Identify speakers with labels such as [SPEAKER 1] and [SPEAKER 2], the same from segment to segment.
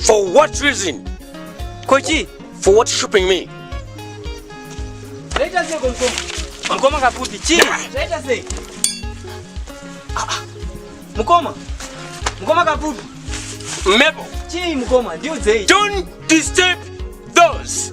[SPEAKER 1] For what reason? Kochi. For what shopping me? Zvaita sei komkoma? Mukoma kakuti chii? Zvaita sei? Ah, ah. Mukoma. Mukoma kakuti. Mebo. Chii mukoma? Ndiudzei. Don't disturb those.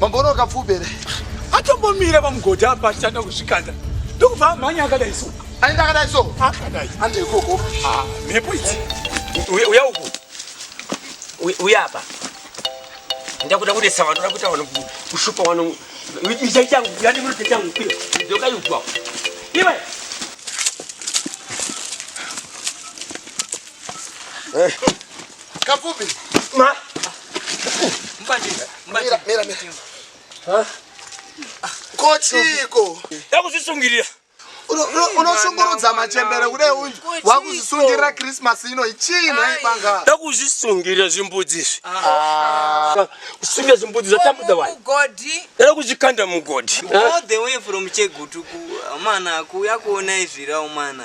[SPEAKER 1] Mamboona kapfupi here? Atombomira pamugodhi apa achitanga kuzvikanda ndokubva amhanya akadai so. Aenda akadai so? Akadai. Ande ikoko. Ah, mhepo idzi. Uya uku. Uya apa. Ndakuda kudesa vanhu, ndakuda vanhu kushupa vanhu. Itai changu, yani muri changu pira. Ndoka yugwa. Iwe. Eh. Kapfupi. Ma. Mbati. Mbati. Mira, mira. Ha? Kochiko. Yakuzvisungirira. unoshungurudza machembere kudai uyu wakuzvisungirira krismas ino ichii nhai banga ndakuzvisungirira zvimbudzi izvi ah. kusungira zvimbudzi zvatambudza vanhu era kuzvikanda mugodhi all the way from chegutu kumana kuuya kuona izvirawo mana